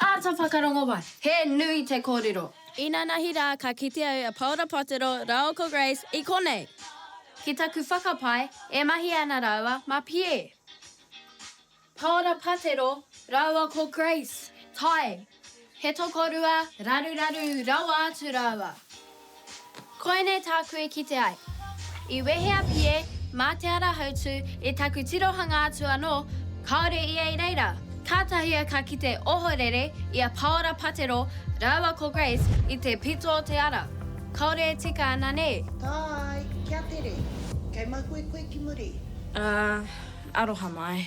Āta whakarongo wai, he nui te kōrero. Inanahi rā ka kite au a Paora Potero rāua ko Grace i konei! Ki taku whakapae, e mahi ana rāua mā Pierre. Paora Potero rāua ko Grace, tae! He tokorua raruraru rawa atu rāua. Koinei tāku e kite ai. I wehe a Pie mā Te Ara Hautū i taku tirohanga atu anō, kāore ia i reira. Kātahi au ka kite ohorere i a Pāora Patero rāua ko Grace i te pito o te ara. Kāore e tika ana nē? Tae, kia tere. Kei mahue koe ki muri? Ā, aroha mai.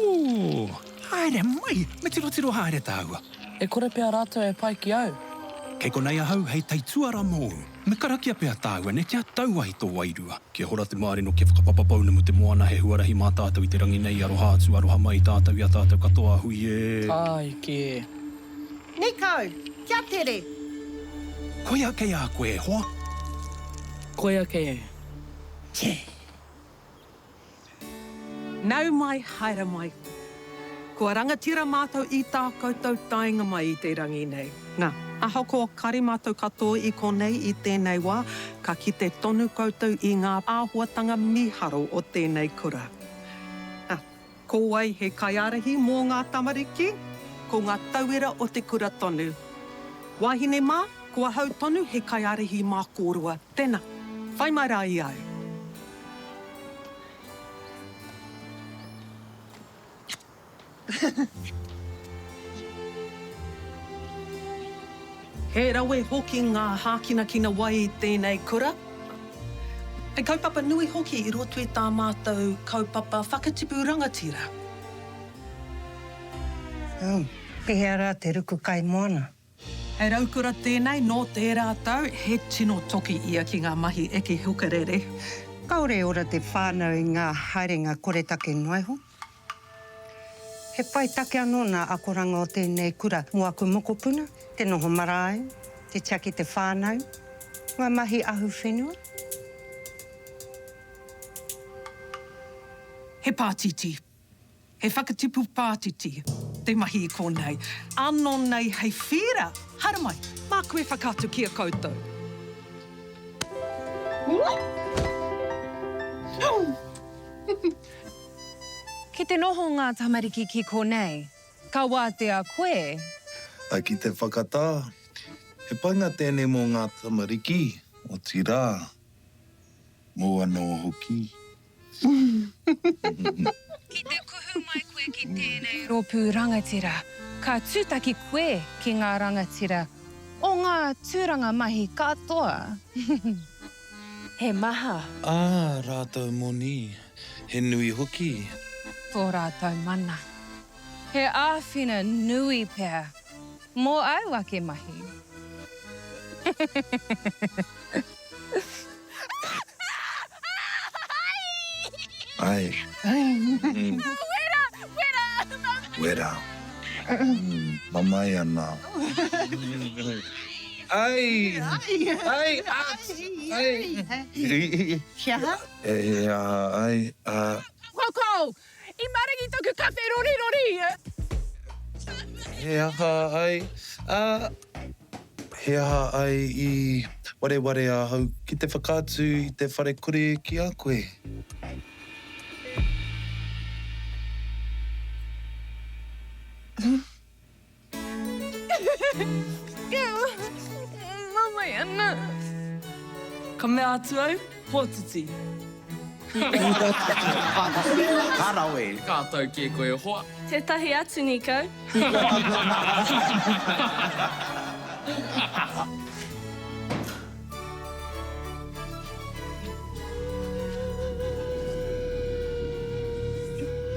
Ooh! Haere mai! Me tirotiro haere tāua. E kore pea rātou e pai ki au. Kei konei ahau hei taituara mōu. Me karakia pea tāua nei kia tau ai tō wairua. Kia hora te mārino, kia whakapapa pounamu te moana, he huarahi mā tātou i te rangi nei, aroha atu, aroha mai i tātou, i a tātou katoa, hui e! Tāai kē! Nei kau! Kia tere! Koia kei a koe e hoa! Koia kei e! Che! Nau mai, haere mai. Kua rangatira mātou i tā koutou taenga mai i te rangi nei. Nā, ahakoa kare mātou katoa i konei i tēnei wā, ka kite tonu koutou i ngā āhuatanga mīharo o tēnei kura. Nā. Ko wai he kaiārahi mō ngā tamariki? Ko ngā tauira o te kura tonu. Wāhine mā, ko ahau tonu he kaiārahi mā kōrua. Tēnā, whai mai rā i au. He rawe hoki ngā hākinakina wai i tēnei kura. He kaupapa nui hoki i roto i tā mātou kaupapa whakatipu rangatira. Ū, pehea rā te ruku kaimoana? He raukura tēnei nō tērā tau, he tino toki ia ki ngā mahi eke hukarere. Kāore e ora te whānau i ngā haerenga koretake noa iho. He whai take anō nā akoranga o tēnei kura mō aku mokopuna, te noho marae, te tia ki te whānau, ngā mahi ahu whenua. He pātiti, he whakatipu pātiti te mahi i kōnei, ānō nei hei whīra, haere mai, māku e whakaatu ki a koutou. Hum! Ki te noho ngā tamariki ki konei, ka wātea koe. Ā, ki te whakatā, he painga tēnei mō ngā tamariki, otirā, mōu anō hoki. Ki te kuhu mai koe ki tēnei rōpū rangatira, ka tūtaki koe ki ngā rangatira o ngā tūranga mahi katoa. He maha. Ā rātou moni, he nui hoki. Tō rātou mana. He āwhina nui pea mō āu ake mahi. Ai. Wera! Wera! Wera! Mamae ana. Ai! Ai! Ai! Ax! Ai! He aha? He aha? Ai! Ax! Koukou! I maringi toku kawhe rorirori! He aha? Ai! Ax! He aha? Ai! I wareware ahau ki te whakaatu i te whare kore ki a koe. Huh? Ka mea atu au, Pōtiti. Ka rawe! Ka tau kē koe e hoa. Tētahi atu nī kau.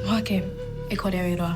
Hoake, e kore au i roa.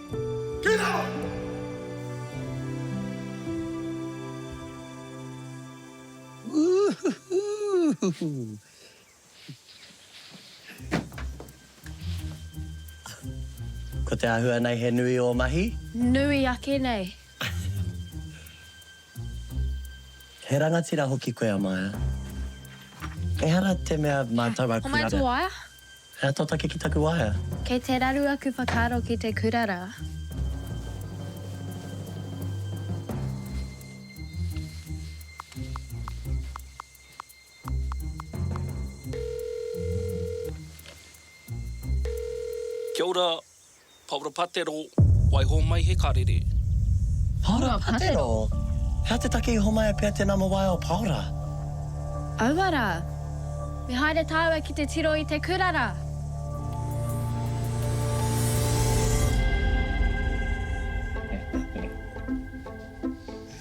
Kei raro! Ko te āhua nei he nui ō mahi? Nui ake nei. He rangatira hoki koe a Maia. Ehara te mea mātou a Kura. Ko mātou a. He ata take ki taku waea. Kei te raru aku whakaaro ki te kura ra. Kia ora, Paora Patero, Waiho mai he karere. Paora Patero, Hea te take i homaia pea te nama waea o Paora? Aua ra. Me haere taua ki te tiro i te kura ra.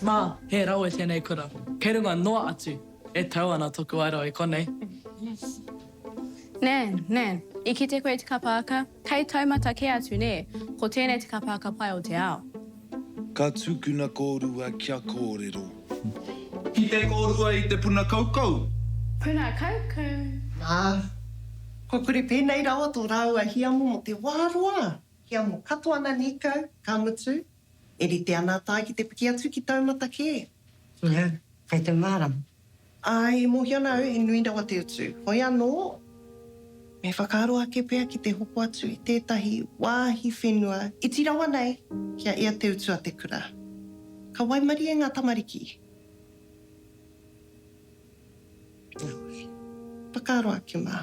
Ma, he rawe tenei kura. Kei runga noa atu. E tau ana toku aero i konei. Nan, nan, i kite koe te kapa aka? Hei taumata kē atu nē, ko tēnei te kapaaka pai o te ao. Ka tukuna kōrua kia kōrero. Ki te kōrua i te puna kaukau. Puna kaukau. Nā, kua kore pēnei rawa tō rāua hiamo mō te wā roa, hiamo katoa na nīkau, ka mutu, e rite ana a Tae ki te piki atu ki taumata kē. Nā, kei te mārama. Ā, i mōhio ana au he nui rawa te utu. Hoi anō, me whakaaro ake pea ki te hoko atu i tētahi wāhi whenua iti rawa nei kia ea te utu a te kura. Ka waimarie ngā tamariki. Heoi, whakaaro ake mā.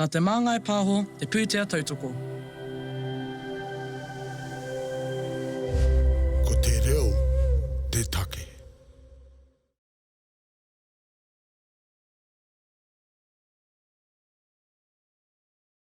Nā Te Māngai Pāho te pūtea tautoko. Ko te reo te take.